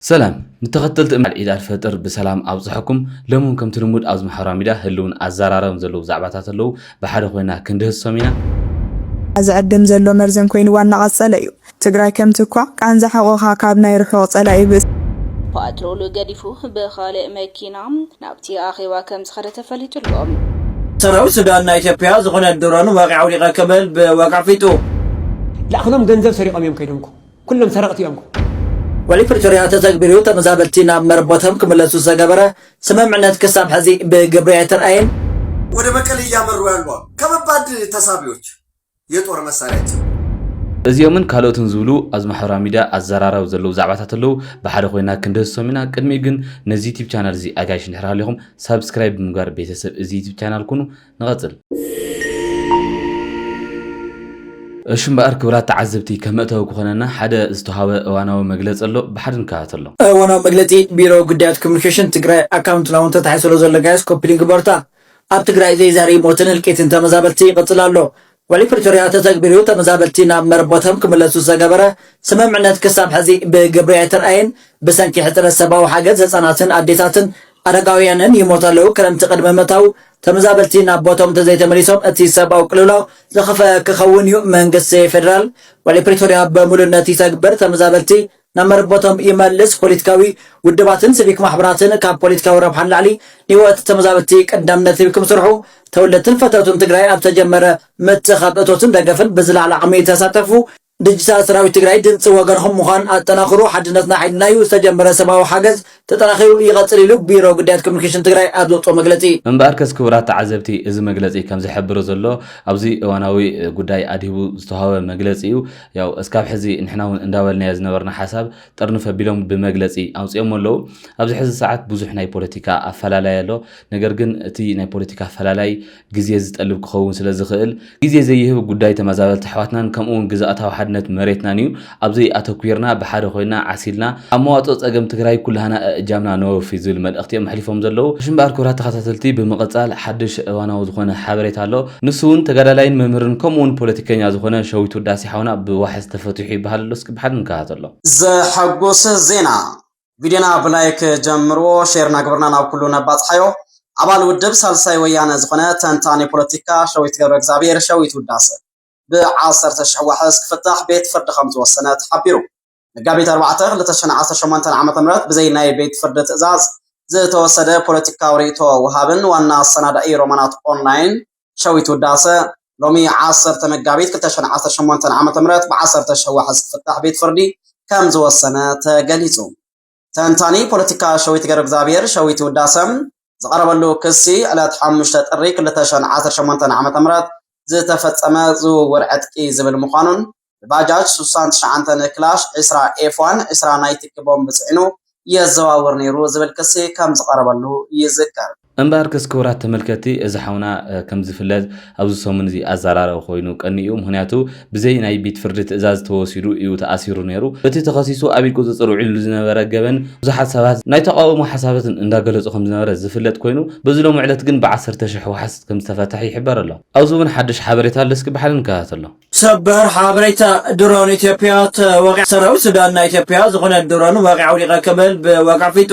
ሰላም ንተኸተልቲ እምነት እንኳዕ ዒድ ኣልፈጥር ብሰላም ኣብፀሐኩም ሎሚ እውን ከምቲ ልሙድ ኣብዚ ማሕበራዊ ሚድያ ህልውን ኣዘራረብን ዘለዉ ዛዕባታት ኣለዉ ብሓደ ኮይና ክንድህስሶም ኢና። ዝዕድም ዘሎ መርዘን ኮይንዋ እናቐፀለ እዩ። ትግራይ ከም ትኳዕ ቃንዛ ሕቖኻ ካብ ናይ ርሑቕ ፀላኢ ብእሲ። ፓትሮል ገዲፉ ብኻልእ መኪና ናብቲ ኣኼባ ከም ዝኸደ ተፈሊጡ ኣሎ። ሰራዊት ሱዳን ናይ ኢትዮጵያ ዝኾነት ድሮን ወቂዐ ውዲቐ ክብል ብወግዒ ኣፍሊጡ። ላእኽሎም ገንዘብ ሰሪቆም እዮም ከይዶም እኮ። ኩሎም ሰረቅቲ እዮም እኮ። ውዕሊ ፕሪቶርያ ተተግቢሩ ተመዛበልቲ ናብ መረበቶም ክምለሱ ዝተገበረ ስምምዕነት ክሳብ ሐዚ ብግብሪ ኣይተርኣየን። ወደ መቀሌ እያመሩ ያሉ አሉ ከበባድ ተሳቢዎች የጦር መሳሪያ ጭምር። እዚኦምን ካልኦትን ዝብሉ ኣብዚ ማሕበራዊ ሚድያ ኣዘራራቢ ዘለዉ ዛዕባታት ኣለዉ ብሓደ ኮይና ክንድህስሶም ኢና ቅድሚኡ ግን ነዚ ዩቱብ ቻናል እዚ ኣጋይሽ እንድሕር ሃሊኹም ሳብስክራይብ ብምግባር ቤተሰብ እዚ ዩቱብ ቻናል ኩኑ ንቐጽል። እሺ እምበኣር ክብራት ተዓዘብቲ ከም መእተዊ ክኾነና ሓደ ዝተውሃበ እዋናዊ መግለጺ ኣሎ ብሓደ ንከታተሎ። እዋናዊ መግለጺ ቢሮ ጉዳያት ኮሙኒኬሽን ትግራይ ኣካውንትና ውን ተታሒዙ ስለ ዘሎ ጋይስ ኮፒ ሊንክ በርታ። ኣብ ትግራይ ዘይዛሪ ሞትን ህልቂትን ተመዛበልቲ ይቕጽል ኣሎ። ውዕሊ ፕሪቶርያ ተተግቢሩ ተመዛበልቲ ናብ መረቦቶም ክምለሱ ዘገበረ ስምምዕነት ክሳብ ሕዚ ብግብሪ ኣይተርኣየን። ብሰንኪ ሕፅረት ሰብኣዊ ሓገዝ ህፃናትን ኣዴታትን ኣረጋውያንን ይሞቱ ኣለው። ክረምቲ ቅድሚ ምእታዉ ተመዛበልቲ ናብ ቦቶም እንተዘይተመሊሶም እቲ ሰብኣዊ ቅልውላው ዝኸፍኣ ክኸውን እዩ። መንግስቲ ፌደራል ውዕሊ ፕሪቶርያ ብሙሉእነት ይተግብር፣ ተመዛበልቲ ናብ መረበቶም ይመልስ፣ ፖለቲካዊ ውድባትን ስቪክ ማሕበራትን ካብ ፖለቲካዊ ረብሓ ንላዕሊ ንህይወት ተመዛበልቲ ቀዳምነት ሂብክም ስርሑ፣ ተወለድትን ፈተውትን ትግራይ ኣብ ዝተጀመረ ምትእኽኻብ እቶትን ደገፍን ብዝለዓለ ዓቕሚ ተሳተፉ፣ ድጅታል ሰራዊት ትግራይ ድምፂ ወገንኹም ምዃን ኣጠናኽሩ፣ ሓድነትና ሓይልና ዩ፣ ዝተጀመረ ሰብኣዊ ሓገዝ ተጠናኺሩ ይቐፅል ኢሉ ቢሮ ጉዳያት ኮሙኒኬሽን ትግራይ ኣብ ዘውፅኦ መግለፂ። እምበኣርከስ ክቡራት ተዓዘብቲ እዚ መግለፂ ከም ዝሕብሮ ዘሎ ኣብዚ እዋናዊ ጉዳይ ኣድሂቡ ዝተውሃበ መግለፂ እዩ። ያው እስካብ ሕዚ ንሕና እውን እንዳበልናዮ ዝነበርና ሓሳብ ጥርንፍ ኣቢሎም ብመግለፂ ኣውፂኦሞ ኣለው። ኣብዚ ሕዚ ሰዓት ብዙሕ ናይ ፖለቲካ ኣፈላላይ ኣሎ። ነገር ግን እቲ ናይ ፖለቲካ ኣፈላላይ ግዜ ዝጠልብ ክኸውን ስለ ዝኽእል፣ ግዜ ዘይህብ ጉዳይ ተመዛበልቲ ኣሕዋትናን ከምኡ'ውን ግዝኣታዊ ሓድነት መሬትናን እዩ። ኣብ'ዚ ኣተኲርና ብሓደ ኮይና ዓሲልና ኣብ መዋጽኦ ጸገም ትግራይ ኩላህና እእጃምና ነወፊ ዝብል መልእኽቲ እዮም ኣሕሊፎም ዘለዉ። ሽምብኣር ክብራት ተኸታተልቲ ብምቕጻል ሓድሽ እዋናዊ ዝኾነ ሓበሬታ ኣሎ። ንሱ'ውን ተጋዳላይን መምህርን ከምኡ'ውን ፖለቲከኛ ዝኾነ ሸዊት ውዳሴ ሓውና ብዋሕስ ተፈቲሑ ይበሃል ኣሎ እስኪ ብሓደ ንከታተሎ። ዘሐጎሰ ዜና! ቪድዮና ብላይክ ጀምርዎ ሼር ናግበርና ናብ ኩሉ ነባፅሓዮ ኣባል ውድብ ሳልሳይ ወያነ ዝኾነ ተንታኒ ፖለቲካ ሸዊት ገብረ እግዚኣብሔር ሸዊት ውዳሰ ብዓሰርተ ሽሕ ዋሕስ ክፍታሕ ቤት ፍርዲ ከምዝወሰነ ተሓቢሩ መጋቢት ኣርባዕተ ክልተ ሽሕን ዓሰርተ ሸሞንተን ዓመተ ምህረት ብዘይ ናይ ቤት ፍርዲ ትእዛዝ ዝተወሰደ ፖለቲካዊ ርእይቶ ወሃብን ዋና ኣሰናዳኢ ሮማናት ኦንላይን ሸዊት ውዳሰ ሎሚ ዓሰርተ መጋቢት ክልተ ሽሕን ዓሰርተ ሸሞንተን ዓመተ ምህረት ብዓሰርተ ሽሕ ዋሕስ ክፍታሕ ቤት ፍርዲ ከም ዝወሰነ ተገሊጹ። ተንታኒ ፖለቲካ ሸዊት ገብረእግዚኣብሄር፣ ሸዊት ውዳሰ፣ ዝቐረበሉ ክሲ ዕለት ሓሙሽተ ጥሪ ክልተ ሽሕን ዓሰርተ ሸሞንተን ዓመተ ምህረት ዝተፈጸመ ዝውውር ዕጥቂ ዝብል ምዃኑን ብባጃጅ ሱሳን ትሽዓንተን ክላሽ፣ ዕስራ ኤፍ-ዋን፣ ዕስራ ናይ ትኪ ቦምብ ጽዒኑ የዘዋውር ነይሩ ዝብል ክሲ ከም ዝቐረበሉ ይዝከር። እምበኣርከስ ክቡራት ተመልከትቲ እዚ ሓውና ከም ዝፍለጥ ኣብዚ ሰሙን እዚ ኣዛራራቢ ኮይኑ ቀንዩ እዩ። ምኽንያቱ ብዘይ ናይ ቤት ፍርዲ ትእዛዝ ተወሲዱ እዩ ተኣሲሩ ነይሩ። እቲ ተኸሲሱ ኣብ ኢድ ቁጽጽር ውዒልሉ ዝነበረ ገበን ብዙሓት ሰባት ናይ ተቓውሞ ሓሳባት እንዳገለጹ ከም ዝነበረ ዝፍለጥ ኮይኑ በዚ ሎሚ ዕለት ግን ብዓሰርተ ሽሕ ዋሕስ ከም ዝተፈትሐ ይሕበር ኣሎ። ኣብዚ እውን ሓድሽ ሓበሬታ ኣሎ እስኪ ብሓደ ንከታተሎ። ሰበር ሓበሬታ ድሮን ኢትዮጵያ ተወቂዓ። ሰራዊት ሱዳን ናይ ኢትዮጵያ ዝኾነ ድሮን ወቂዓ ውዲቐ ክብል ብወግዒ ኣፍሊጡ።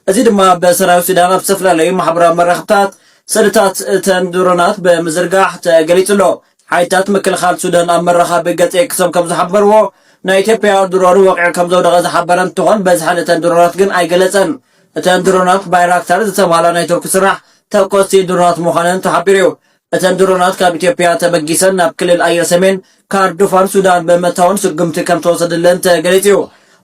እዚ ድማ ብሰራዊት ሱዳን ኣብ ዝተፈላለዩ ማሕበራዊ መራኽብታት ስእልታት እተን ድሮናት ብምዝርጋሕ ተገሊጹ ኣሎ። ሓይልታት ምክልኻል ሱዳን ኣብ መራኸቢ ገጽ ኤክሶም ከምዝሓበርዎ፣ ናይ ኢትዮጵያ ድሮን ወቂዑ ከምዘውደቐ ዝሓበረ እንትኾን በዝሐን እተን ድሮናት ግን ኣይገለጸን። እተን ድሮናት ባይራክታር ዝተብሃላ ናይ ቱርኪ ስራሕ ተኮስቲ ድሮናት ምዃነን ተሓቢሩ እዩ። እተን ድሮናት ካብ ኢትዮጵያ ተበጊሰን ናብ ክልል ኣየር ሰሜን ካርዱፋን ሱዳን ብምእታወን ስጉምቲ ከም ተወሰደለን ተገሊጹ እዩ።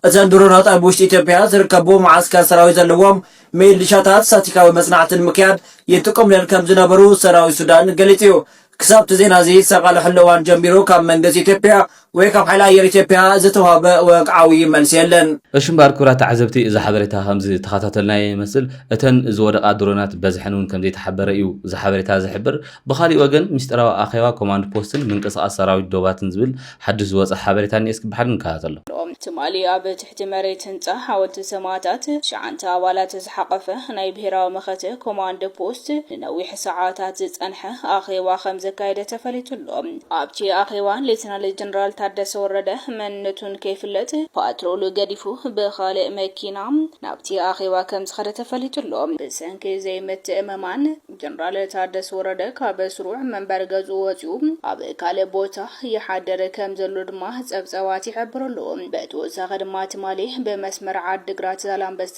እተን ድሮናት ኣብ ውሽጢ ኢትዮጵያ ዝርከቡ መዓስከር ሰራዊት ዘለዎም ሚሊሻታት ሳቲካዊ መጽናዕቲ ንምክያድ ይጥቀሙለን ከም ዝነበሩ ሰራዊት ሱዳን ገሊጹ እዩ። ክሳብ'ቲ ዜና'ዚ ዝተቓለሐሉ እዋን ጀሚሩ ካብ መንግስቲ ኢትዮጵያ ወይ ካብ ሓይሊ ኣየር ኢትዮጵያ ዝተዋህበ ወግዓዊ መልሲ የለን። እሺ እምበኣር ክብራት ተዓዘብቲ እዚ ሓበሬታ ከምዚ ተኸታተልናዮ ይመስል እተን ዝወደቓ ድሮናት በዝሐን እውን ከምዘይተሓበረ እዩ እዚ ሓበሬታ ዝሕብር ብኻሊእ ወገን ሚስጢራዊ ኣኼባ ኮማንድ ፖስትን ምንቅስቓስ ሰራዊት ዶባትን ዝብል ሓዱሽ ዝወጸ ሓበሬታ እኒኤ እስኪ ብሓድ ንከታተሎ። ትማሊ ኣብ ትሕቲ መሬት ህንጻ ሓወልቲ ሰማእታት ትሽዓንተ ኣባላት ዝሓቐፈ ናይ ብሄራዊ መኸተ ኮማንድ ፖስት ንነዊሕ ሰዓታት ዝጸንሐ ኣኼባ ከምዘካየደ ተፈሊጡ ኣሎ። ኣብቲ ኣኼባ ሌተናል ጀነራል ታደሰ ወረደ መንነቱ ንከይፍለጥ ፓትሮል ገዲፉ ብኻልእ መኪና ናብቲ ኣኼባ ከምዝኸደ ተፈሊጡ ኣሎ። ብሰንኪ ዘይምትእምማን ጀነራል ታደሰ ወረደ ካብ ስሩዕ መንበሪ ገዝኡ ወጺኡ ኣብ ካልእ ቦታ ይሓድር ከምዘሎ ድማ ጸብጻባት ይሕብሩ ኣለዉ። ብተወሳኺ ድማ ትማሊ ብመስመር ዓዲግራት-ዛላምበሳ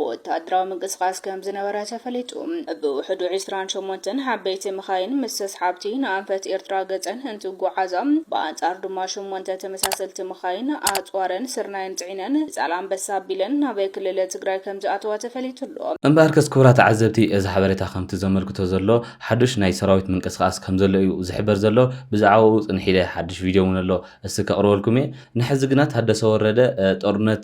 ወተሃደራዊ ምንቅስቓስ ከምዝነበረ ተፈሊጡ። ብውሕዱ ዕስራን ሸሞንተን ዓበይቲ መኻይን ምስ ተስሓብቲ ንኣንፈት ኤርትራ ገጸን እንትጓዓዛ፣ ብኣንጻሩ ድማ ሸሞንተ ተመሳሰልቲ መኻይን ኣጽዋረን ስርናይን ጽዒነን ንዛላንበሳ ኣቢለን ናብ ክልል ትግራይ ከምዝኣተዋ ተፈሊጡ'ሎ። እምበኣርከስ ክቡራት ተዓዘብቲ እዚ ሓበሬታ ከምቲ ዘመልክቶ ዘሎ ሓዱሽ ናይ ሰራዊት ምንቅስቃስ ከምዘሎ እዩ ዝሕበር ዘሎ ብዛዕባኡ ጽንሕ ኢለ ሓዱሽ ቪድዮ እውን ኣሎ እስቲ ከቅርበልኩም እየ ንሕዚ ግና ታደሰ ወረደ ጦርነት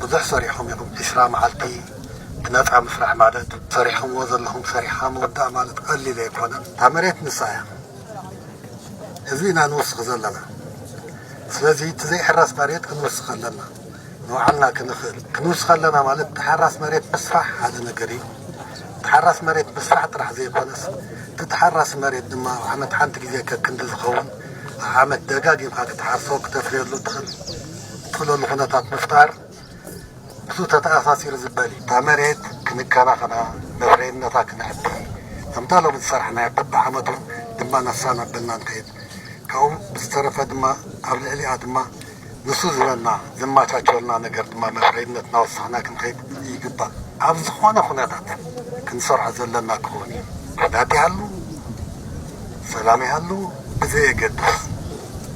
ብዙሕ ሰሪሕኹም ኢኹም ዕስራ መዓልቲ ብነጻ ምስራሕ ማለት ሰሪሕኹምዎ ዘለኹም ሰሪሕኻ ምውዳእ ማለት ቀሊል ኣይኮነን እታ መሬት ንሳ እያ ህዝቢ ኢና ንውስኽ ዘለና ስለዚ እቲ ዘይሕረስ መሬት ክንውስኽ ኣለና ንባዕልና ክንኽእል ክንውስኽ ኣለና ማለት ተሓራስ መሬት ምስራሕ ሓደ ነገር እዩ ተሓራስ መሬት ምስራሕ ጥራሕ ዘይኮነስ እቲ ተሓራሲ መሬት ድማ ኣብ ዓመት ሓንቲ ግዜ ከክንዲ ዝኸውን ኣብ ዓመት ደጋጊምካ ክትሓርሶ ክተፍርየሉ ትኽእል ዝጽለሉ ኩነታት ምፍጣር ምስኡ ተተኣሳሲሩ ዝበል እዩ። እታ መሬት ክንከናኸና፣ መፍረይነታ ክነዕቢ፣ ከምታ ሎሚ ዝሰራሕናያ በብዓመቱ ድማ ነፍሳ እናበልና ንኸይድ። ካብኡ ብዝተረፈ ድማ ኣብ ልዕሊኣ ድማ ንሱ ዝበልና፣ ዘማቻቸወልና ነገር ድማ መፍረይነት እናወሰኽና ክንኸይድ ይግባእ። ኣብ ዝኾነ ኩነታት ክንሰርሖ ዘለና ክኸውን እዩ። ኩናት ይሃሉ ሰላም ይሃሉ ብዘየገድስ።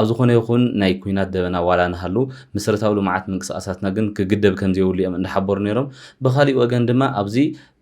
ኣብ ዝኾነ ይኹን ናይ ኲናት ደበና ዋላ ንሃሉ መሰረታዊ ልምዓት ምንቅስቓሳትና ግን ክግደብ ከምዘይብሉ እዮም እንዳሓበሩ ነይሮም። ብኻሊእ ወገን ድማ ኣብዚ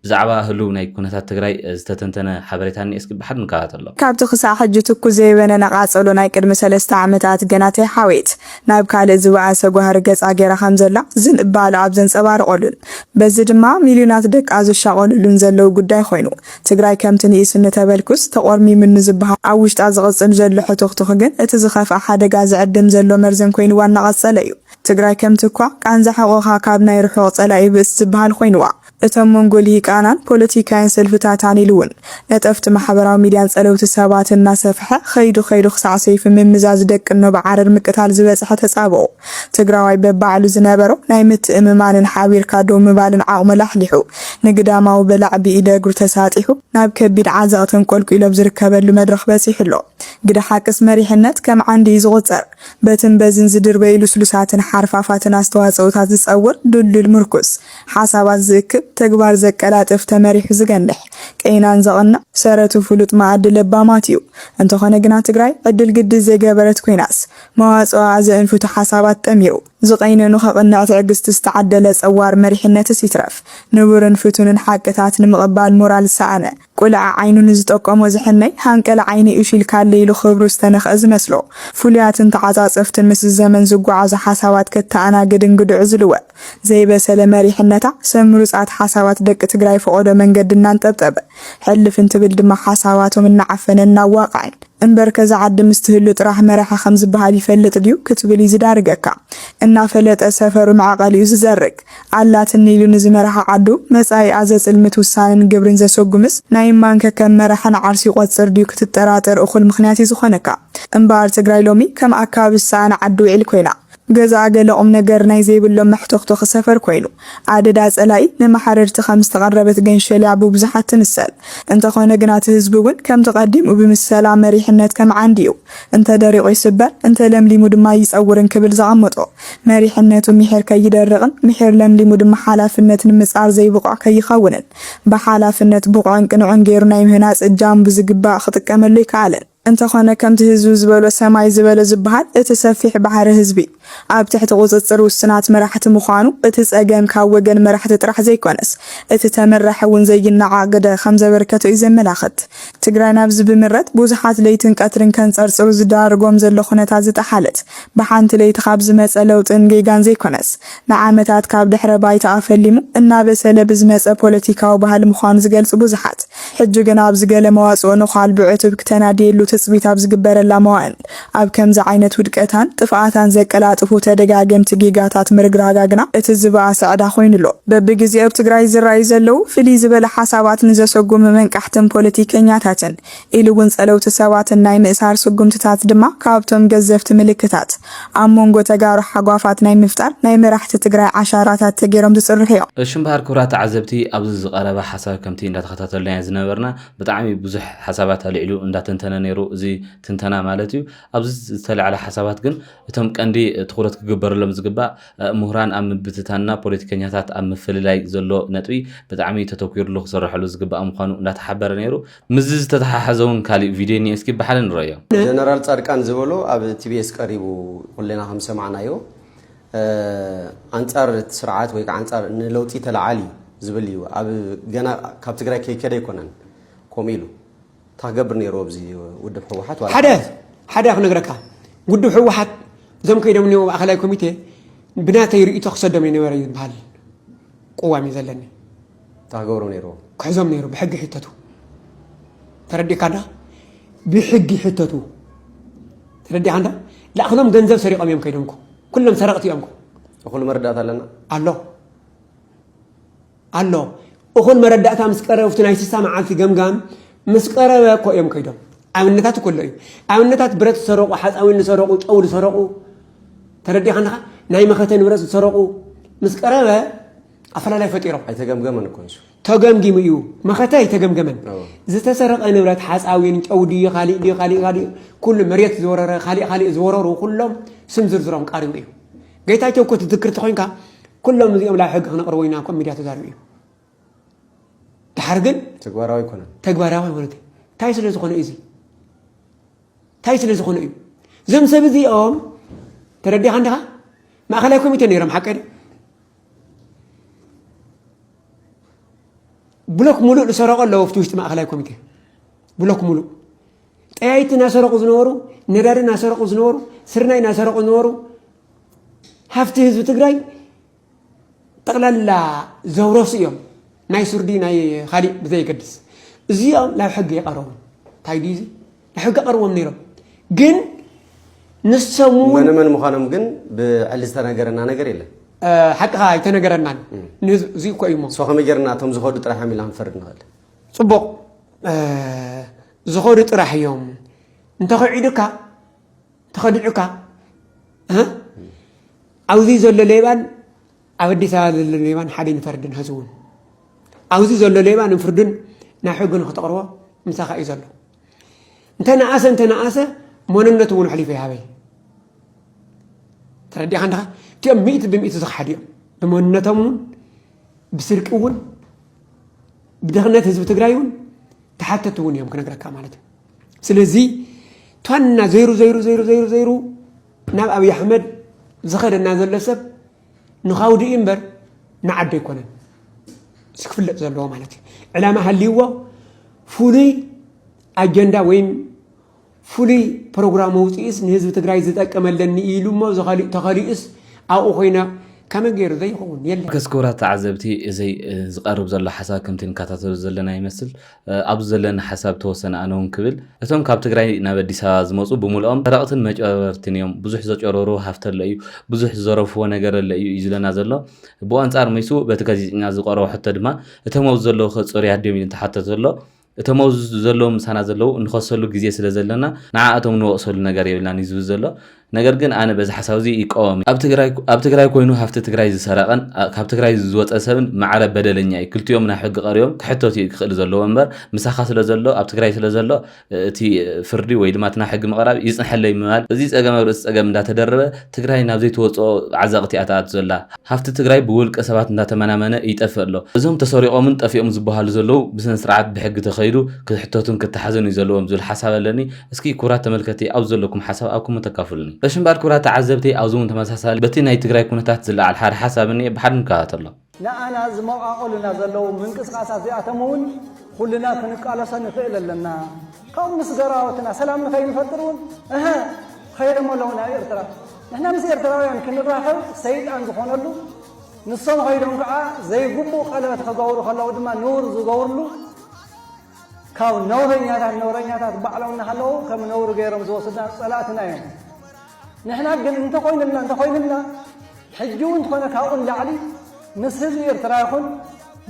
ብዛዕባ ህሉው ናይ ኩነታት ትግራይ ዝተተንተነ ሓበሬታ እኒኤ እስኪ ብሓድ ንከታተሎ። ካብቲ ክሳዕ ሕጂ ትኩስ ዘይበነነ ቃጸሎ ናይ ቅድሚ ሰለስተ ዓመታት ገና ተይሓወየት ናብ ካልእ ዝበኣሰ ጓህሪ ገጻ ገይራ ከም ዘላ ዝንባለኣ ኣብ ዘንጸባርቐሉን በዚ ድማ ሚልዮናት ደቃ ዝሻቐሉሉን ዘለዉ ጉዳይ ኮይኑ ትግራይ ከምቲ ንኢሱ ንተበልኩስ ተቖርሚሙኒ ዝበሃል ኣብ ውሽጣ ዝቕጽል ዘሎ ሕቱኽቱኽ ግን እቲ ዝኸፍኣ ሓደጋ ዝዕድም ዘሎ መርዘን ኮይንዋ እናቐጸለ እዩ። ትግራይ ከምቲ እኳ ቃንዛ ሕቖኻ ካብ ናይ ርሑቕ ጸላኢ ብእስ ዝበሃል ኮይንዋ እቶም መንጎ ሊሂቃናን ፖለቲካውያን ሰልፍታታን ኢሉ እውን ነጠፍቲ ማሕበራዊ ሚድያን ጸለውቲ ሰባትን እናሰፈሐ ከይዱ ከይዱ ክሳዕ ሰይፊ ምምዛዝ ደቂ እኖ ብዓረር ምቅታል ዝበጸሐ ተጻብኦ ትግራዋይ በባዕሉ ዝነበሮ ናይ ምትእምማንን ሓቢርካ ደው ምባልን ዓቕሙ ላሕሊሑ፣ ንግዳማዊ በላዒ ብኢደ እግሩ ተሳጢሑ፣ ናብ ከቢድ ዓዘቕቲ ኣንቆልቊሉ ኣብ ዝርከበሉ መድረኽ በጺሑ ኣሎ። ግደ ሓቅስ መሪሕነት ከም ዓንዲ እዩ ዝቑጸር። በትን በዝን ዝድርበዩ ልስሉሳትን ሓርፋፋትን ኣስተዋጽኦታት ዝጸውር ድልዱል ምርኩስ፣ ሓሳባት ዝእክብ፣ ተግባር ዘቀላጥፍ፣ ተመሪሑ ዝገንሕ፣ ቀይናን ዘቕንዕ፣ ሰረቱ ፍሉጥ መኣዲ ለባማት እዩ። እንተኾነ ግና ትግራይ ዕድል ግዲ ዘይገበረት ኮይናስ፣ መዋጽኦ ኣዘእን ፍቱሕ ሓሳባት ጠሚሩ፣ ዝቐይነኑ ከቕንዕ ትዕግስቲ ዝተዓደለ ጸዋር መሪሕነትስ ይትረፍ፣ ንቡርን ፍቱንን ሓቅታት ንምቕባል ሞራል ዝሰኣነ፣ ቁልዐ ዓይኑ ንዝጠቆሞ ዝሕመይ፣ ሃንቀለ ዓይነይ እሹይልካለይ ኢሉ ክብሩ ዝተነኽአ ዝመስሎ፣ ፍሉያትን ተዓጻጸፍትን ምስ ዘመን ዝጓዓዙ ሓሳባት ከተኣናግድን ግድዑ ዝልወ። ዘይበሰለ መሪሕነታ ሰብ ምሩጻት ሓሳባት ደቂ ትግራይ ፈቖዶ መንገዲ እናንጠብጠበ ሕልፍ እንትብል ድማ ሓሳባቶም እናዓፈነን እናዋቕዐን እምበርከ እዛ ዓዲ ምስ ትህሉ ጥራሕ መራሒ ከም ዝበሃል ይፈልጥ ድዩ ክትብል እዩ ዝዳርገካ። እናፈለጠ ሰፈሩ መዕቐሊኡ ዝዘርግ። ኣላትኒ ኢሉ ንዝመረሓ ዓዱ መጻኢኣ ዘጽልምት ውሳነን ግብርን ዘሰጉምስ ናይ እማን ከከም መራሕን ዓርሱ ይቖጽር ድዩ ክትጠራጠር እኹል ምኽንያት እዩ ዝኾነካ። እምበኣር ትግራይ ሎሚ ከም ኣካባቢ ዝሰኣነ ዓዲ ውዒል ኮይና። ገዛኣ ገለ ቁምነገር ናይ ዘይብሎም መሕቶኽቶኺ ሰፈር ኮይኑ፣ ኣደዳ ጸላኢ መመሓረርቲ ከም ዝተቐረበት ገንሸልያ ብብዙሓት ትምሰል። እንተኾነ ግና እቲ ህዝቢ እውን ከምቲ ቀዲሙ ብምሰላ መሪሕነት ከም ዓንዲ እዩ፣ እንተ ደሪቑ ይስበር፣ እንተ ለምሊሙ ድማ ይጸውር እንክብል ዘቐመጦ። መሪሕነቱ ምሒር ከይደርቕን ምሒር ለምሊሙ ድማ ሓላፍነት ንምጻር ዘይብቑዕ ከይኸውንን ብሓላፍነት ብቑዕን ቅኑዕን ገይሩ ናይ ምህናጽ እጃሙ ብዝግባእ ክጥቀመሉ ኣይከኣለን። እንተኾነ ከምቲ ህዝቢ ዝበሎ ሰማይ ዝበሎ ዝበሃል እቲ ሰፊሕ ባሕሪ ህዝቢ ኣብ ትሕቲ ቁጽጽር ውሱናት መራሕቲ ምዃኑ እቲ ጸገም ካብ ወገን መራሕቲ ጥራሕ ዘይኮነስ እቲ ተመራሒ እውን ዘይናዓቕ ግደ ከምዘበርከቶ እዩ ዘመላኽት። ትግራይ ናብዚ ብምረት ብዙሓት ለይትን ቀትርን ከንጸርጽሩ ዝዳርጎም ዘሎ ኩነታት ዝጠሓለት ብሓንቲ ለይቲ ካብ ዝመጸ ለውጥን ጌጋን ዘይኮነስ ንዓመታት ካብ ድሕረ ባይታኣ ፈሊሙ እናበሰለ ብዝመጸ ፖለቲካዊ ባህሊ ምዃኑ ዝገልጹ ብዙሓት ሕጂ ግና ኣብዚ ገለ መዋጽኦ ነዃል ብዕቱብ ክተናድየሉ ትጽቢት ኣብ ዝግበረላ መዋእል፣ ኣብ ከምዚ ዓይነት ውድቀታን ጥፍኣታን ዘቀላጥፉ ተደጋገምቲ ጌጋታት ምርግራጋ ግና እቲ ዝበኣሰ ዕዳ ኮይኑ ኣሎ። በብግዜኡ ኣብ ትግራይ ዝረኣዩ ዘለዉ ፍልይ ዝበለ ሓሳባት ንዘሰጉሙ መንቃሕትን ፖለቲከኛታትን ኢሉ'ውን ጸለውቲ ሰባትን ናይ ምእሳር ስጉምትታት ድማ ካብ'ቶም ገዘፍቲ ምልክታት ኣብ ሞንጎ ተጋሩ ሓጓፋት ናይ ምፍጣር ናይ መራሕቲ ትግራይ ዓሻራታት ተገይሮም ዝፅርሑ እዮም። እሺ እምበሃር ክብራት ተዓዘብቲ ኣብዚ ዝቀረበ ሓሳብ ከምቲ እንዳተከታተልናዮ ዝነበርና ብጣዕሚ ብዙሕ ሓሳባት ኣልዒሉ እንዳተንተነ ነይሩ እዚ ትንተና ማለት እዩ ኣብዚ ዝተላዕለ ሓሳባት ግን እቶም ቀንዲ ትኩረት ክግበረሎም ዝግባእ ሙሁራን ኣብ ምብትታንና ፖለቲከኛታት ኣብ ምፍልላይ ዘሎ ነጥቢ ብጣዕሚ ተተኪሩሉ ክስረሐሉ ዝግባእ ምኳኑ እንዳተሓበረ ነይሩ ምስዚ ዝተተሓሓዘ እውን ካሊእ ቪድዮ እኒኤ እስኪ ብሓደ ንረእዮ። ጀነራል ፃድቃን ዝበሎ ኣብ ቲቢኤስ ቀሪቡ ኩልና ከም ዝሰማዕናዮ ኣንፃር እቲ ስርዓት ወይ ከዓ ኣንፃር ንለውጢ ተለዓል እዩ ዝብል እዩ ኣብ ገና ካብ ትግራይ ከይከደ ኣይኮነን ከምኡ ኢሉ እንታይ ክገብር ነይሩ ኣብዚ ውድብ ህወሓት ሓደ ሓደ ክነግረካ ውድብ ህወሓት እዞም ከይዶም እኒኦ ማእኸላይ ኮሚቴ ብናተይ ርእቶ ክሰዶም እዩ ነበረ እዩ ዝበሃል ቅዋም እዩ ዘለኒ እንታይ ክገብሩ ነይርዎ ክሕዞም ነይሩ ብሕጊ ሕተቱ ተረዲካ እንዳ ብሕጊ ሕተቱ ተረዲካ እንዳ ላእክሎም ገንዘብ ሰሪቆም እዮም ከይዶም እኮ ኩሎም ሰረቅቲ እዮም እኮ እኹል መረዳእታ ኣለና ኣሎ ኣሎ እኹል መረዳእታ ምስ ቀረበ ኣብቲ ናይ ስሳ መዓልቲ ገምጋም ምስ ቀረበ እኮ እዮም ከይዶም ኣብነታት እኮ ኣሎ እዩ ኣብነታት ብረት ዝሰረቑ ሓፃዊን ዝሰረቑ ጨው ዝሰረቑ ተረዲኻ ኣለኻ ናይ መኸተ ንብረት ዝሰረቑ ምስ ቀረበ ኣፈላላይ ፈጢሮም ኣይተገምገመን እኮ ንሱ ተገምጊሙ እዩ መኸተ ኣይተገምገመን ዝተሰረቐ ንብረት ሓፃዊን ጨው ድዩ ካሊእ ድዩ ካሊእ ካሊእ ኩሉ መሬት ዝወረረ ካሊእ ካሊእ ዝወረሩ ኩሎም ስም ዝርዝሮም ቃሪቡ እዩ ጌታቸው እኮ ትዝክር ተኮይንካ ኩሎም እዚኦም ላብ ሕጊ ክነቕርቦ ኢና ኮም ሚድያ ተዛሪቡ እዩ ድሓር ግን ተግባራዊ ይኮነ ተግባራዊ ኣይኮነ እንታይ ስለ ዝኾነ እዩ እንታይ ስለ ዝኾነ እዩ እዞም ሰብ እዚኦም ተረዲኻ እንዲኻ ማእኸላይ ኮሚቴ ነይሮም ሓቀ ብሎክ ሙሉእ ዝሰረቑ ኣለዉ ኣብቲ ውሽጢ ማእኸላይ ኮሚቴ ብሎክ ሙሉእ ጠያይቲ እናሰረቑ ዝነበሩ ነዳዲ እናሰረቑ ዝነበሩ ስርናይ እናሰረቑ ዝነበሩ ሃፍቲ ህዝቢ ትግራይ ጠቕላላ ዘውረሱ እዮም ናይ ሱርዲ ናይ ካሊእ ብዘየገድስ እዚኦም ናብ ሕጊ የቐረቡ እንታይ ድዩ ብሕጊ ቀርቦም ነይሮም ግን ንሶም እውን መንመን ምዃኖም ግን ብዕሊ ዝተነገረና ነገር የለን ሓቅኻ ኣይተነገረናን እዚ እኮ እዩ ሞ ከመይ ጌርና እቶም ዝኸዱ ጥራሕ እዮም ኢልና ክንፈርድ ንኽእል ፅቡቕ ዝኸዱ ጥራሕ እዮም እንተኸዒዱካ እንተኸዲዑካ ኣብዚ ዘሎ ሌባን ኣብ ኣዲስ ኣበባ ዘሎ ሌባ ንሓደ ንፈርድን ሀዚ እውን ኣብዚ ዘሎ ሌባ ንፍርድን ናብ ሕጊ ንክተቕርቦ ምሳኻ እዩ ዘሎ እንተነኣሰ እንተነኣሰ መንነቱ እውን ኣሕሊፉ ይሃበይ ተረዲኻ እንድኻ እቲኦም ሚእቲ ብሚእቲ ዝኽሓዱ እዮም ብመንነቶም እውን ብስርቂ እውን ብድኽነት ህዝቢ ትግራይ እውን ተሓተቲ እውን እዮም ክነግረካ ማለት እዩ ስለዚ ቷና ዘይሩ ዘይሩ ዘይሩ ዘይሩ ዘይሩ ናብ ኣብይ ኣሕመድ ዝኸደና ዘሎ ሰብ ንኻውዲ እዩ እምበር ንዓዲ ኣይኮነን እዚ ክፍለጥ ዘለዎ ማለት እዩ ዕላማ ሃልይዎ ፍሉይ ኣጀንዳ ወይም ፍሉይ ፕሮግራም ውፅኢስ ንህዝቢ ትግራይ ዝጠቅም ኣለኒ ኢሉ እሞ ተኸሊኡስ ኣብኡ ኮይነ ከመይ ገይሩ ዘይኸውን የለን። ክቡራት ተዓዘብቲ እዚ ዝቀርብ ዘሎ ሓሳብ ከምቲ ንከታተሎ ዘለና ይመስል ኣብዚ ዘለኒ ሓሳብ ተወሰነ ኣነ ውን ክብል እቶም ካብ ትግራይ ናብ ኣዲስ ኣበባ ዝመፁ ብሙልኦም ሰረቅትን መጭበርበርትን እዮም ብዙሕ ዘጨረሩ ሃፍቲ ኣሎ እዩ ብዙሕ ዝዘረፍዎ ነገር ኣሎ እዩ እዩ ዝለና ዘሎ ብኣንፃር ምይሱ በቲ ጋዜጠኛ ዝቀረቦ ሕቶ ድማ እቶም ኣብዚ ዘለዉ ከ ፅሩያት ድዮም ኢሉ እንተሓተተ ዘሎ እቶም ኣብዚ ዘለዉ ምሳና ዘለዉ እንኸሰሉ ግዜ ስለ ዘለና ንዓኣቶም ንወቅሰሉ ነገር የብልናን እዩ ዝብል ዘሎ ነገር ግን ኣነ በዚ ሓሳብ እዚ ይቃወም እየ። ኣብ ትግራይ ኮይኑ ሃፍቲ ትግራይ ዝሰረቐን ካብ ትግራይ ዝወፀ ሰብን ማዕረ በደለኛ እዩ። ክልቲኦም ናብ ሕጊ ቀሪቦም ክሕተቱ እዩ ክኽእል ዘለዎ እምበር ምሳኻ ስለ ዘሎ ኣብ ትግራይ ስለ ዘሎ እቲ ፍርዲ ወይ ድማ እቲ ናብ ሕጊ ምቕራብ ይፅንሐለይ ምባል እዚ ፀገም ኣብ ርእሲ ፀገም እንዳተደረበ ትግራይ ናብ ዘይትወፅኦ ዓዘቕቲ እያ ተኣቱ ዘላ። ሃፍቲ ትግራይ ብውልቀ ሰባት እንዳተመናመነ ይጠፍእ ኣሎ። እዞም ተሰሪቖምን ጠፊኦም ዝበሃሉ ዘለዉ ብስነ ስርዓት ብሕጊ ተኸይዱ ክሕተቱን ክተሓዙን እዩ ዘለዎም ዝብል ሓሳብ ኣለኒ። እስኪ ክብራት ተመልከቲ ኣብዚ ዘለኩም ሓሳብ ኣብ ኮመንት ኣካፍሉኒ። እሺ እምበኣር ክብራት ተዓዘብቲ ኣብዚ ውን ተመሳሳሊ በቲ ናይ ትግራይ ኩነታት ዝለዓል ሓደ ሓሳብ እኒኤ ብሓደ ንከታተሎ። ንኣና ዝመቓቕሉና ዘለዉ ምንቅስቓሳት እዚኣቶም እውን ኹልና ክንቃለሶ ንኽእል ኣለና። ካብኡ ምስ ገራወትና ሰላም ንኸይንፈጥር እውን እሀ ኸይዶም ኣለዉ ናብ ኤርትራ። ንሕና ምስ ኤርትራውያን ክንራኸብ ሰይጣን ዝኾነሉ ንሶም ኸይዶም ከዓ ዘይግቡእ ቀለበት ኸገብሩ ኸለዉ ድማ ንውር ዝገብርሉ ካብ ነውረኛታት ነውረኛታት ባዕሎም እናሃለዉ ከም ነውሪ ገይሮም ዝወስዱና ፀላእትና እዮም። ንሕና ግን እንተኾይኑልና እንተኾይኑልና ሕጂ እውን እንተኾነ ካብኡ ንላዕሊ ምስ ህዝቢ ኤርትራ ይኹን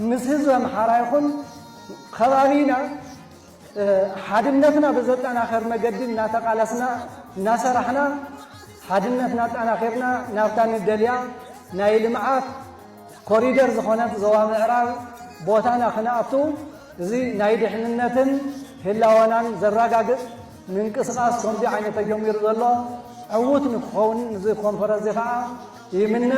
ምስ ህዝቢ ኣምሓራ ይኹን ከባቢና ሓድነትና ብዘጠናኸር መገዲ እናተቓለስና እናሰራሕና ሓድነትና ኣጠናኺርና ናብታ ንደልያ ናይ ልምዓት ኮሪደር ዝኾነት ዞባ ምዕራብ ቦታና ክንኣቱ እዚ ናይ ድሕንነትን ህላወናን ዘራጋግፅ ምንቅስቃስ ከምዚ ዓይነት ተጀሚሩ ዘሎ ዕዉት ንክኸውን እዚ ኮንፈረንስ ከዓ ይምነ።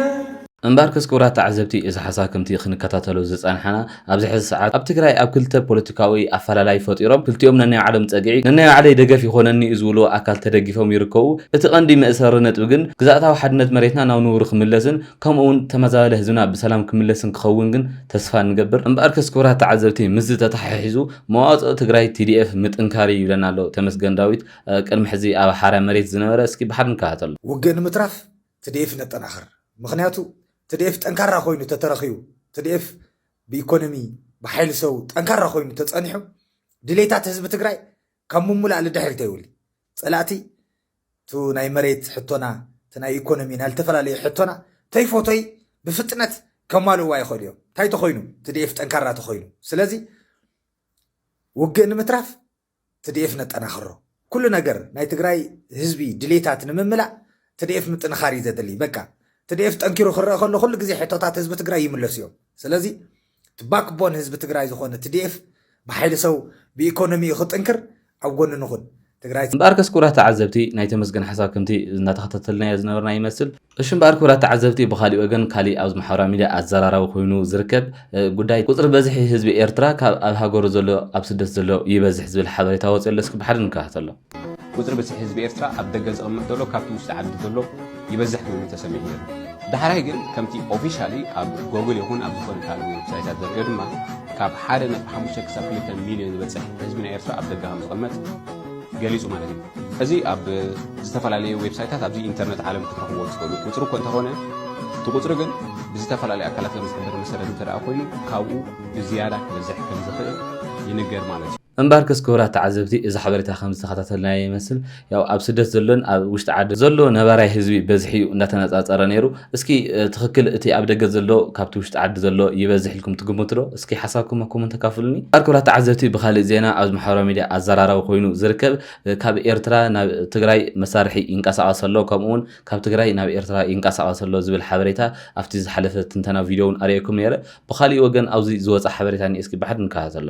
እምበኣርከስ ክቡራት ተዓዘብቲ እዚ ሓሳብ ከምቲ ክንከታተሎ ዝጸንሓና ኣብዚ ሕዚ ሰዓት ኣብ ትግራይ ኣብ ክልተ ፖለቲካዊ ኣፈላላይ ፈጢሮም ክልቲኦም ነናይ ባዕሎም ጸግዒ ነናይ ባዕለይ ደገፍ ይኾነኒ እዩ ዝብልዎ ኣካል ተደጊፎም ይርከቡ። እቲ ቀንዲ መእሰሪ ነጥቢ ግን ግዝኣታዊ ሓድነት መሬትና ናብ ንቡሩ ክምለስን ከምኡ እውን ተመዛባሊ ህዝብና ብሰላም ክምለስን ክኸውን ግን ተስፋ ንገብር። እምበኣርከስ ክቡራት ተዓዘብቲ ምስዚ ተተሓሒዙ መዋፅኦ ትግራይ TDF ምጥንካር እዩ ይብለና ኣሎ ተመስገን ዳዊት ቅድሚ ሕዚ ኣብ ሓራ መሬት ዝነበረ እስኪ ብሓድ ንከታተሎ። ውግእ ንምትራፍ ትዲኤፍ ነጠናኽር ምኽንያቱ ትዲኤፍ ጠንካራ ኮይኑ ተተረኺቡ ትዲኤፍ ብኢኮኖሚ ብሓይሊ ሰው ጠንካራ ኮይኑ ተፀኒሑ ድሌታት ህዝቢ ትግራይ ካብ ምሙላእ ልድሕር ተይውል ጸላእቲ እቱ ናይ መሬት ሕቶና እቲ ናይ ኢኮኖሚ ናይ ልተፈላለዩ ሕቶና ተይፎቶይ ብፍጥነት ከማልእዋ ይኸእሉ እዮም እንታይ ተኾይኑ ትድኤፍ ጠንካራ ተኾይኑ ስለዚ ውግእ ንምትራፍ ትድኤፍ ነጠናኽሮ ኩሉ ነገር ናይ ትግራይ ህዝቢ ድሌታት ንምምላእ ትድኤፍ ምጥንኻር እዩ ዘድልይ በቃ ትድኤፍ ጠንኪሩ ክረአ ከሎ ኩሉ ግዜ ሕቶታት ህዝቢ ትግራይ ይምለሱ እዮም ስለዚ እቲ ባክ ቦን ህዝቢ ትግራይ ዝኾነ TDF ብሓይሊ ሰው ብኢኮኖሚኡ ክጥንክር ኣብ ጎኑ ንኹን። ትግራይ እምበኣርከስ ክቡራት ተዓዘብቲ ናይ ተመስገን ሓሳብ ከምቲ እናተኸታተልናዮ ዝነበርና ይመስል። እሺ እምበኣር ክቡራት ተዓዘብቲ ብኻሊእ ወገን ካሊእ ኣብዚ ማሕበራዊ ሚድያ ኣዘራራቢ ኮይኑ ዝርከብ ጉዳይ ቁፅሪ በዝሒ ህዝቢ ኤርትራ ካብ ኣብ ሃገሩ ዘሎ ኣብ ስደት ዘሎ ይበዝሕ ዝብል ሓበሬታ ወፂኡ ኣሎ እስኪ ብሓደ ንከታተሎ። ቁጽሪ ብዝሒ ህዝቢ ኤርትራ ኣብ ደገ ዝቕመጥ ዘሎ ካብቲ ውሽጢ ዓዲ ዘሎ ይበዝሕ ኮይኑ ተሰሚዑ ነይሩ። ዳሕራይ ግን ከምቲ ኦፊሻሊ ኣብ ጎግል ይኹን ኣብ ዝኾነ ካልእ ዌብሳይታት ዘርእዮ ድማ ካብ ሓደ ነጥቢ ሓሙሽተ ክሳብ ክልተ ሚልዮን ዝበጽሕ ህዝቢ ናይ ኤርትራ ኣብ ደገ ከም ዝቕመጥ ገሊጹ ማለት እዩ። እዚ ኣብ ዝተፈላለየ ዌብሳይታት ኣብዚ ኢንተርነት ዓለም ክትረኽብዎ ትኽእሉ ቁጽሪ እኮ እንተኾነ እቲ ቁጽሪ ግን ብዝተፈላለዩ ኣካላት ከም ዝሕበር መሰረት እንተደኣ ኮይኑ ካብኡ ብዝያዳ ክበዝሕ ከም ዝኽእል ይንገር ማለት እዩ። እምበኣርከስ ክቡራት ተዓዘብቲ እዚ ሓበሬታ ከም ዝተኸታተልናዮ ይመስል። ያው ኣብ ስደት ዘሎን ኣብ ውሽጢ ዓዲ ዘሎ ነባራይ ህዝቢ በዝሒ እዩ እንዳተነጻጸረ ነይሩ። እስኪ ትኽክል እቲ ኣብ ደገ ዘሎ ካብቲ ውሽጢ ዓዲ ዘሎ ይበዝሕ ኢልኩም ትግምቱ ዶ? እስኪ ሓሳብኩም ኣብ ኮመንት ኣካፍሉኒ። እምበኣር ክቡራት ተዓዘብቲ ብኻልእ ዜና ኣብዚ ማሕበራዊ ሚድያ ኣዘራራቢ ኮይኑ ዝርከብ ካብ ኤርትራ ናብ ትግራይ መሳርሒ ይንቀሳቐስ ኣሎ ከምኡ'ውን ካብ ትግራይ ናብ ኤርትራ ይንቀሳቐስ ኣሎ ዝብል ሓበሬታ ኣብቲ ዝሓለፈ ትንተና ቪድዮ እውን ኣርእየኩም ነይረ። ብኻሊእ ወገን ኣብዚ ዝወጸ ሓበሬታ እኒኤ እስኪ ብሓድ ንከታተሎ።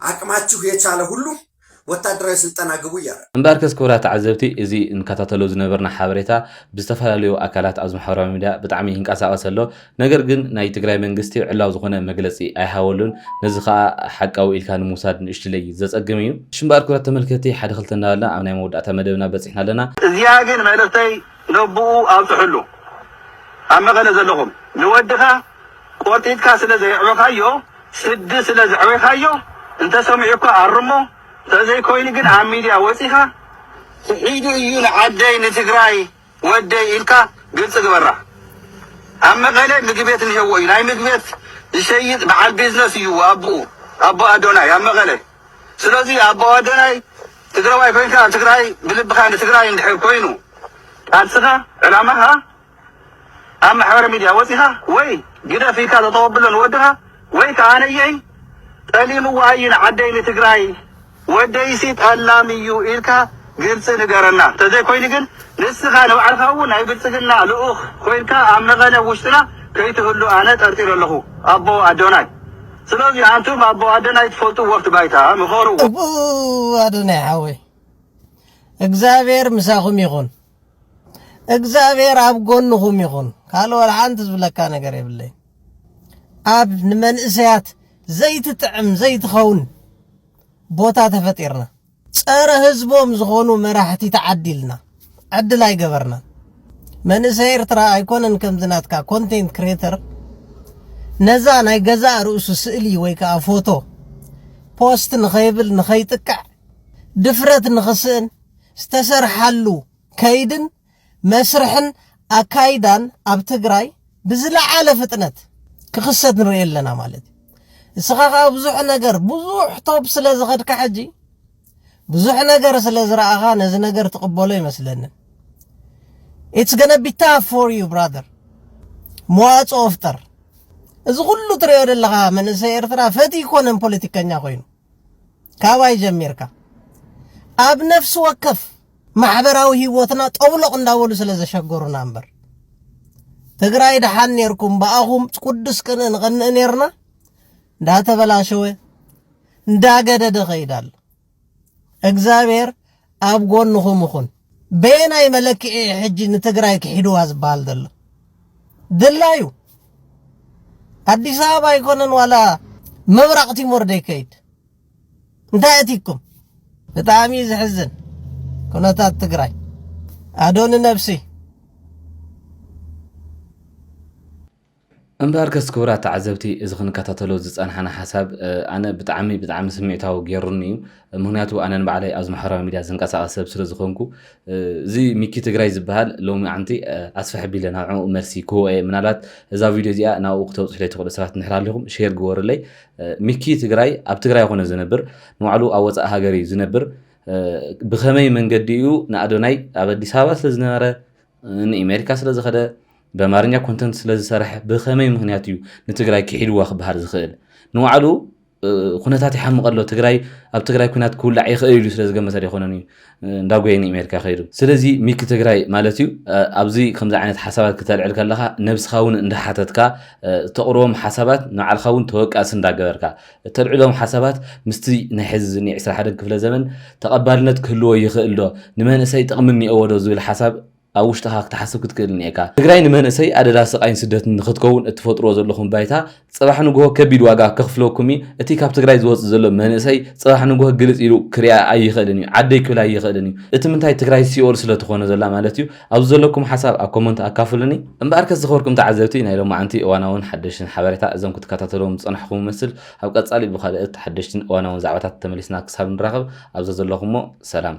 ዓቅማችሁ የቻለ ሁሉ ወታደራዊ ስልጠና ግቡ እያለ ነው። እምበኣርከስ ክቡራት ተዓዘብቲ እዚ ንከታተሎ ዝነበርና ሓበሬታ ብዝተፈላለዩ ኣካላት ኣብዚ ማሕበራዊ ሚድያ ብጣዕሚ ይንቀሳቐስ ኣሎ ነገር ግን ናይ ትግራይ መንግስቲ ዕላዊ ዝኾነ መግለፂ ኣይሃበሉን ነዚ ኸኣ ሓቃዊ ኢልካ ንምውሳድ ንእሽትለይ ዘፀግም እዩ። እሺ እምበኣር ክብራት ተመልከቲ ሓደ ክልተ እናበልና ኣብ ናይ መወዳእታ መደብና በፂሕና ኣለና። እዚኣ ግን መልእኽተይ ነቡኡ ኣብፅሑሉ ኣብ መቐለ ዘለኹም ንወድኻ ቆርጢጥካ ስለ ዘየዕበኻዮ ስዲ ስለ ዘዕበይካዮ እንተ ሰሚዑካ ኣርሞ ተዘይ ኮይኑ ግን ኣብ ሚድያ ወጺኻ ክሒዱ እዩ ንዓደይ ንትግራይ ወደይ ኢልካ ግልጺ ግበራ ኣብ መቀለ ምግቤት እንሄዎ እዩ ናይ ምግቤት ዝሸይጥ በዓል ቢዝነስ እዩ ኣቡኡ ኣቦ ኣዶናይ ኣብ መቀለ ስለዚ ኣቦ ኣዶናይ ትግራዋይ ኮይንካ ኣብ ትግራይ ብልብካ ንትግራይ እንድሕር ኮይኑ ቃልስኻ ዕላማኻ ኣብ ማሕበረ ሚድያ ወጺኻ ወይ ግደፍ ኢልካ ተተወብሎ ንወድኻ ወይ ከኣ ነየይ ጠሊምዋ ኣዩ ንዓደይ ንትግራይ ወደይሲ ጠላም ኢዩ ኢልካ ግልጺ ንገረና እንተዘይኮይኑ ግን ንስኻ ንባዕልኻ እውን ናይ ብልጽግና ልኡኽ ኮይንካ ኣብ መቐለ ውሽጥና ከይትህሉ ኣነ ጠርጢረ ኣለኹ ኣቦ ኣዶናይ ስለዚ ኣንቱም ኣቦ ኣደናይ ትፈልጡ ወፍቲ ባይታ ምኸሩ ኣቦ ኣደናይ ሓወይ እግዚኣብሔር ምሳኹም ይኹን። እግዚኣብሔር ኣብ ጎንኹም ይኹን። ካልእ ወላ ሓንቲ ዝብለካ ነገር የብለይ። ኣብ ንመንእሰያት ዘይትጥዕም ዘይትኸውን ቦታ ተፈጢርና ጸረ ህዝቦም ዝኾኑ መራሕቲ ተዓዲልና ዕድል ኣይገበርና። መንእሰይ ኤርትራ ኣይኮነን ከምዚ ናትካ ኮንቴንት ክሬተር ነዛ ናይ ገዛእ ርእሱ ስእሊ ወይ ከዓ ፎቶ ፖስት ንኸይብል ንኸይጥቅዕ ድፍረት ንኽስእን ዝተሰርሓሉ ከይድን መስርሕን ኣካይዳን ኣብ ትግራይ ብዝለዓለ ፍጥነት ክኽሰት ንርኢ ኣለና ማለት እዩ። እስኻ ከዓ ብዙሕ ነገር ብዙሕ ቶብ ስለ ዝኸድካ ሕጂ ብዙሕ ነገር ስለ ዝረኣኻ ነዚ ነገር ትቕበሎ ይመስለንን ኢትስ ገነ ቢ ታፍ ፎር ዩ ብራዘር መዋፅኦ ፍጠር እዚ ኩሉ ትሪኦ ዘለኻ መንእሰይ ኤርትራ ፈት ይኮነን ፖለቲከኛ ኮይኑ ካባይ ጀሚርካ ኣብ ነፍሲ ወከፍ ማሕበራዊ ህይወትና ጠብሎቕ እንዳበሉ ስለ ዘሸገሩና እምበር ትግራይ ደሓን ኔርኩም ብኣኹም ቅዱስ ቅንእ ንቐንእ ኔርና እንዳተበላሸወ እንዳገደደ ኸይዳሉ እግዚኣብሔር ኣብ ጎንኹም እኹን። በየናይ መለክዒ እዩ ሕጂ ንትግራይ ክሒድዋ ዝበሃል ዘሎ? ድላዩ ኣዲስ ኣበባ ኣይኮነን ዋላ ምብራቕ ቲሞር ደይከይድ እንታይ ኣትይኩም? ብጣዕሚ እዩ ዝሕዝን ኩነታት ትግራይ ኣዶኒ ነብሲ እምበኣርከስ ክቡራት ተዓዘብቲ እዚ ክንከታተሎ ዝጸናሕና ሓሳብ ኣነ ብጣዕሚ ብጣዕሚ ስምዒታዊ ገይሩኒ እዩ። ምክንያቱ ኣነ ንባዕለይ ኣብዚ ማሕበራዊ ሚድያ ዝንቀሳቐስ ሰብ ስለ ዝኾንኩ እዚ ሚኪ ትግራይ ዝበሃል ሎሚዓንቲ ኣስፍሕ ኣቢለ ናብ ዕኡ መልሲ ክህቦ እየ። ምናልባት እዛ ቪድዮ እዚኣ ናብኡ ክተብጽሑለይ ትኽእሉ ሰባት እንድሕር ሃሊኹም ሼር ግበሩለይ። ሚኪ ትግራይ ኣብ ትግራይ ኣይኮነ ዝነብር ንባዕሉ ኣብ ወጻኢ ሃገር እዩ ዝነብር። ብኸመይ መንገዲ እዩ ንኣዶናይ ኣብ ኣዲስ ኣበባ ስለ ዝነበረ ንኢሜሪካ ስለ ዝኸደ በማርኛ ኮንተንት ስለ ዝሰርሐ ብኸመይ ምክንያት እዩ ንትግራይ ክሒድዋ ክበሃል ዝኽእል ንባዕሉ ኩነታት ይሓምቀ ኣሎ ትግራይ ኣብ ትግራይ ኩናት ክውላዕ ይኽእል ኢሉ ስለ ዝገመተ ዘይኮነን እዩ እንዳጎየ ንኣሜሪካ ከይዱ ስለዚ ሚኪ ትግራይ ማለት እዩ ኣብዚ ከምዚ ዓይነት ሓሳባት ክተልዕል ከለካ ነብስካ እውን እንዳሓተትካ ተቕርቦም ሓሳባት ንባዕልካ እውን ተወቃሲ እንዳገበርካ እተልዕሎም ሓሳባት ምስቲ ናይ ሕዚ ዝኒሀ ዕስራ ሓደን ክፍለ ዘመን ተቐባልነት ክህልዎ ይኽእል ዶ? ንመንእሰይ ጠቕሚ እኒኦዎ ዶ? ዝብል ሓሳብ ኣብ ውሽጥኻ ክትሓስብ ክትክእል እኒኤካ። ትግራይ ንመንእሰይ ኣደዳ ስቓይን ስደትን ንኽትከውን እትፈጥርዎ ዘለኹም ባይታ ፅባሕ ንጉሆ ከቢድ ዋጋ ከኽፍለኩም እዩ። እቲ ካብ ትግራይ ዝወፅእ ዘሎ መንእሰይ ፅባሕ ንጉሆ ግልፅ ኢሉ ክሪኣ ኣይኽእልን እዩ። ዓደይ ክብል ኣይኽእልን እዩ። እቲ ምንታይ ትግራይ ሲኦል ስለትኾነ ዘላ ማለት እዩ። ኣብዚ ዘለኩም ሓሳብ ኣብ ኮሞንት ኣካፍሉኒ። እምበኣርከስ ዝኸበርኩም ተዓዘብቲ ናይ ሎማዓንቲ እዋናውን ሓደሽትን ሓበሬታ እዞም ክትከታተልዎም ዝጸናሕኩም እመስል ኣብ ቀጻሊ ብኻልእት ሓደሽትን እዋናውን ዛዕባታት ተመሊስና ክሳብ ንራኸብ ኣብ ዘዘለኹሞ ሰላም